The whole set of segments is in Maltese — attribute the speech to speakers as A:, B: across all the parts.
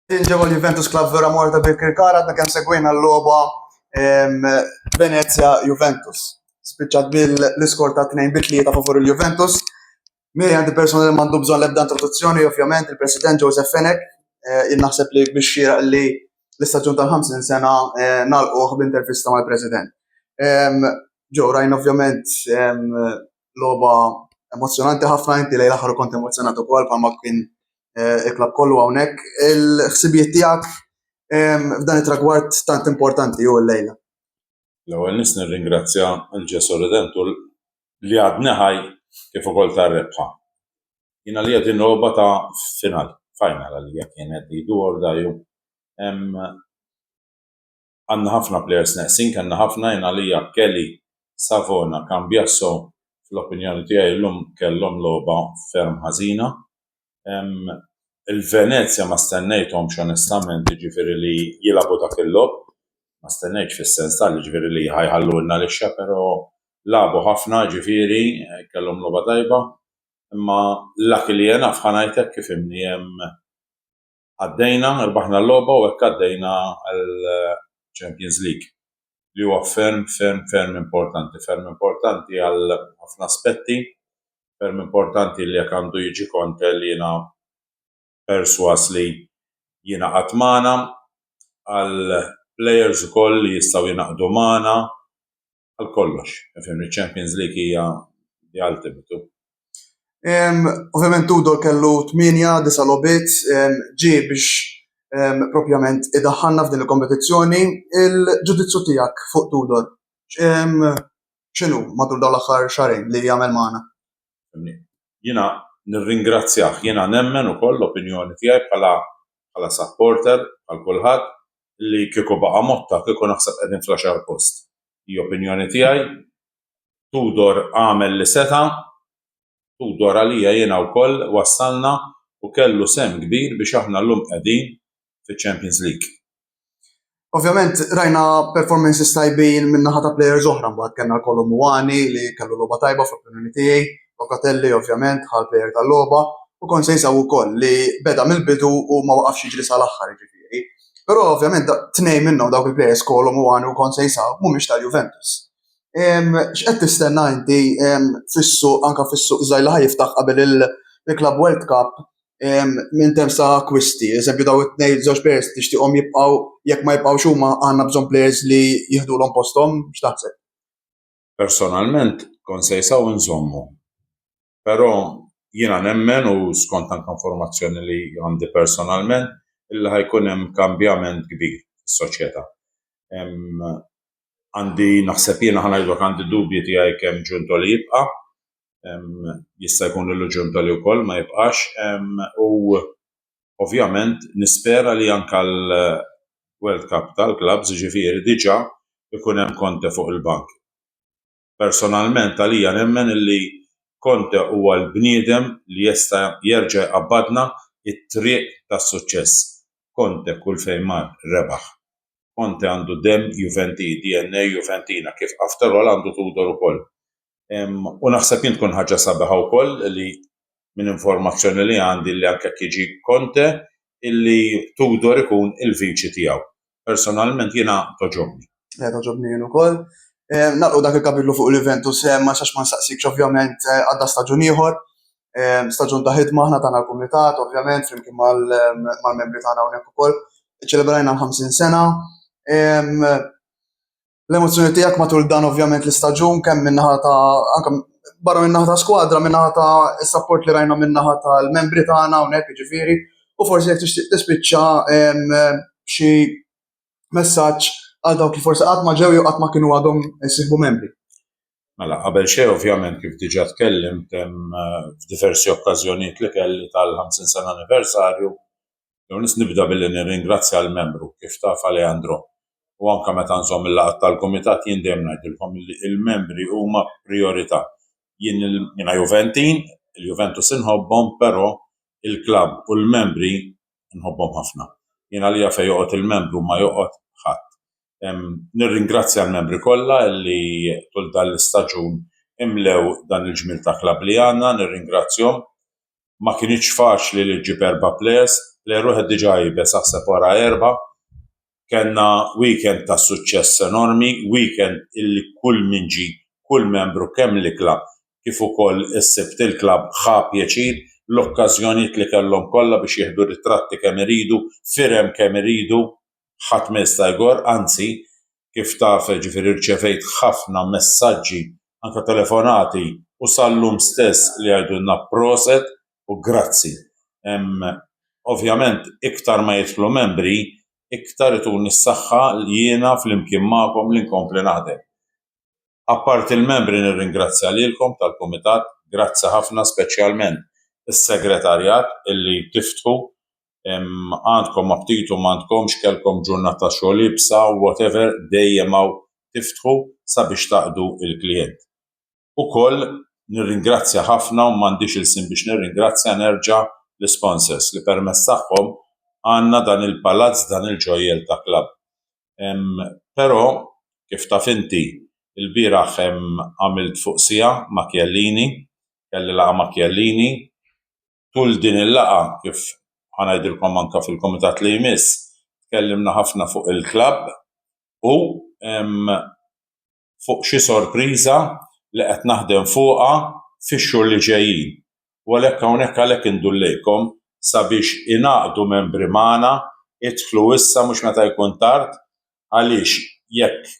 A: Inġebu l-Juventus Club Villa Morta ta' Birkirkara għadna kemm segwejna l-logħba Venezia Juventus. Spiċċat bil-iskor ta' 2 bi tlieta favur il-Juventus. Miri għandi persona li mandu bżon lebda introduzzjoni, ovvjament, il-President Joseph Fenek, eh, naħseb li biex xira li l-istaġun tal-50 sena eh, nalquħ b'intervista mal-President. Ġo, rajn ovvjament loba emozjonanti ħafna inti lejla ħaru kont emozjonat ukoll bħalma kien eh, il-klab kollu hawnhekk il-ħsibijiet tiegħek ehm, f'dan it-tragward tant importanti u l-lejla. L-ewwel
B: nis nirringrazzja l-Ġesu Redentur li għadni ħaj kif ukoll tar-rebħa. Jiena li qed inroba ta' final, final għalija kienet li dur daju. Ehm, għandna ħafna plejers neqsin, kellna ħafna, jien għalija Kelly, Savona, Cambiasso fl-opinjoni tiegħi llum kellhom logħba ferm ħażina. Il-Venezja ma stennejthomx onestament jiġifieri li jilagħbu dak il-logħob, ma stennejtx fis-sens tal jiġifieri li ħa jħallulna lixxa però lagħbu ħafna jiġifieri kellhom logħba tajba imma luckily enough ħa ngħidlek kif inhi hemm għaddejna, rbaħna l-logħba u hekk għaddejna għall-Champions League li huwa ferm, ferm, ferm importanti, ferm importanti għal ħafna aspetti, ferm importanti li jekk għandu jiġi Conte li jiena perswas li jiena qatt magħna, għal players ukoll li jistgħu jinaqdu magħna, għal kollox. Fimni Champions League hija the ultimate. Ovvjament
A: Tudor kellu 8-9 lobit ġi biex propjament idaħħalna f'din il-kompetizzjoni. Il-ġudizzju tiegħek fuq Tudor x'inhu matul dawn l-aħħar xarejn li jagħmel magħna?
B: Jiena nirringrazzjah, jiena nemmen ukoll l-opinjoni tiegħi bħala bħala supporter għal kulħadd li kieku baqa' Motta kieku naħseb qegħdin fl-għaxar post. Hi opinjoni tiegħi. Tudor għamel li seta'. Tudor għalija jiena wkoll wassalna u kellu sehem kbir biex aħna llum qegħdin fiċ-Champions League.
A: Ovvjament rajna performances tajbin min-naħa ta' players oħra, mbagħad kellna l-Kolo Muani li kellu logħba tajba fl-opinjoni tiegħi. Locatelli ovvjament ħa l-plejer tal-logħba u kont se jinsab ukoll li beda mill-bidu u ma waqafx jiġri sal-aħħar jiġifieri. Però ovvjament tnejn minnhom dawk il-plejers Kolo Muani u kont se jinsab mhumiex tal-Juventus. X'qed tistenna inti fis-suq anke fis-suq żgħir li ħa jiftaħ qabel il-Club World Cup minn terms ta' akkwisti, eżempju daw it-tnejn żewġ plejers tixtieqhom jibqgħu jekk ma jibqgħux huma għandna bżonn plejers li jiħdulhom posthom, x'taħseb? personalment
B: kont sejsa u nżommu. Però jiena nemmen u skont anke informazzjoni li għandi personalment illi ħa jkun hemm kambjament kbir fis-soċjetà. Għandi naħseb jiena ħa ngħidlok għandi d-dubji tiegħi kemm Giuntoli jibqa', jista' jkun li Lu Giuntoli wkoll ma jibqax u Ovvjament nispera li anke għall-World Cup tal-Clubs, jiġifieri diġà jkun hemm Conte fuq il-bank. Personalment għalija nemmen li Conte huwa l-bniedem li jesta' jerġa' jqabbadna t-triq tas-suċċess. Conte kull fejn mar rebaħ. Conte għandu demm Juventi, DNA Juventina, kif after all għandu Tudor ukoll. U naħseb jien tkun ħaġa sabiħa wkoll li minn informazzjoni li għandi li anke jiġi Conte illi Tudor ikun il-viċi tiegħu. Personalment jiena toġobni. Eh, toġobni jien
A: ukoll. Eh, naqgħu dak il-kapitlu fuq l-Juventus eh, ma sax ma nsaqsikx ovvjament għadda staġun ieħor. Staġun ta' ħidma aħna tagħna l-kumitat, ovvjament, flimkien mal-membri tagħna hawnhekk ukoll. Iċċelebrajna 50 sena. l-emozzjoni tiegħek matul dan ovvjament l-istaġun kemm minnaħa ta' anke barra minnaħa ta' skwadra, minnaħa ta' support li rajna minnaħa tal-membri tagħna hawnhekk jiġifieri, u forsi jekk tixtieq tispiċċa xi messaġġ għal dawk li forsi qatt ma ġew jew qatt ma kienu għadhom isiħbu membri. Mela, qabel
B: xejn ovvjament kif diġà tkellimt hemm eh, f'diversi okkażjonijiet li kelli tal-50 sena anniversarju Permess nibda billi nirringrazzja l-membru, kif taf Alejandro, u anke meta nżomm il-laqgħat tal-kumitat jien dejjem ngħidilkom li l-membri huma prijorità. Jien jiena Juventin, il-Juventus inħobbhom, però il-klabb u l-membri nħobbhom ħafna. Jien għalija fejn joqgħod il-membru ma joqgħod ħadd. Nirringrazzja l-membri kollha li tul dan l-istaġun imlew dan il-ġmiel ta' klabb li għandna, nirringrazzjahom. ma kinitx faċli li ġġib erba' players, player wieħed diġà jibes aħseb wara erba'. Kenna weekend ta' suċċess enormi, weekend illi kull min ġi, kull membru kemm l-ikla kif ukoll is-Sibt il-klabb ħa pjaċir, l-okkażjonijiet li kellhom kollha biex jieħdu ritratti kemm iridu, firem kemm iridu, ħadd ma jista' jgorr, anzi kif taf jiġifieri rċevejt ħafna messaġġi anke telefonati u sal-lum stess li jgħidulna proset u grazzi. Ovvjament iktar ma jidħlu membri iktar ituni s-saħħa jiena flimkien magħkom li nkompli naħdem. Apparti l-membri nirringrazzja lilkom tal-kumitat, grazzi ħafna speċjalment is-segretarjat illi tiftħu għandkom aptitu m'għandkomx kellkom ġurnata xogħol ibsa whatever dejjem hawn tiftħu sabiex taqdu l-klijent. Ukoll nirringrazzja ħafna u m'għandix ilsien biex nirringrazzja nerġa' l-isponsors li permezz tagħhom għandna dan il-palazz dan il-ġojjel ta' klabb. Però kif taf inti ilbieraħ għamilt fuq siegħa ma' Chiellini, kelli laqgħa ma' Chiellini, tul din il-laqgħa kif ħa ngħidilkom anke fil-kumitat li jmiss, tkellimna ħafna fuq il-klabb u fuq xi sorpriża li qed naħdem fuqha fix-xhur li ġejjin. U għalhekk hawnhekk għalhekk indur lejkom sabiex ingħaqdu membri magħna, idħlu issa mhux meta jkun tard għaliex jekk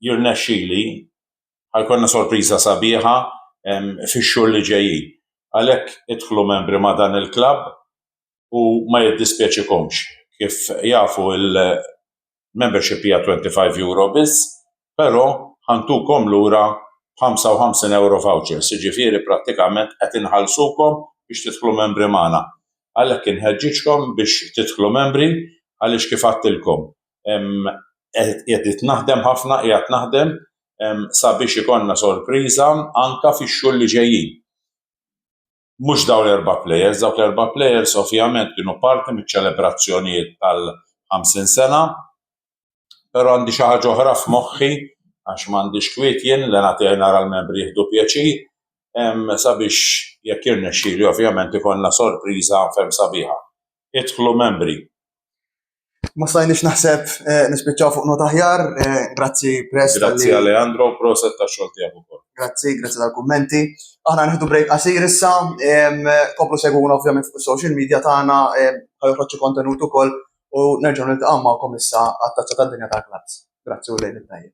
B: jirnexxili ħajkonna sorpriża sabiħa fix-xhur li ġejjin. Għalhekk idħlu membri ma' dan il-klabb u ma jiddispjaċikomx. Kif jafu il-membership hija twenty five euro biss, però ħa ntukom lura b'ħamsa u ħamsin ewro vouchers, jiġifieri prattikament qed inħallsukom biex tidħlu membri magħna. Għalhekk inħeġġiġkom biex tidħlu membri għaliex kif għedtilkom qegħdit naħdem ħafna, qiegħed naħdem sabiex ikollna sorpriża anke fix-xhur li ġejjin. Mhux dawn l-erba' plejers, dawk l-erba' plejers ovvjament kienu parti miċ-ċelebrazzjonijiet tal-50 sena, però għandi xi ħaġa oħra f'moħħi għax m'għandix kwiet jien li nagħtiha nara l-membri jieħdu pjaċir sabiex jekk jirnexxili ovvjament ikollna sorpriża ferm sabiħa. Idħlu membri.
A: Ma stajniex naħseb eh, nispiċċaw fuq nota ħjar, eh, grazzi Press. Grazzi Alejandro,
B: proset ta' xogħol tiegħek ukoll. Grazzi, grazzi tal-kummenti.
A: Aħna nħidu break qasir issa, koplu segwuna ovvjament fuq social media tagħna, ħajħroġġu kontenut ukoll u nerġgħu niltaqgħu magħkom issa għat-tazza tad-dinja tal-klass. Grazzi u lejn it-tajjeb.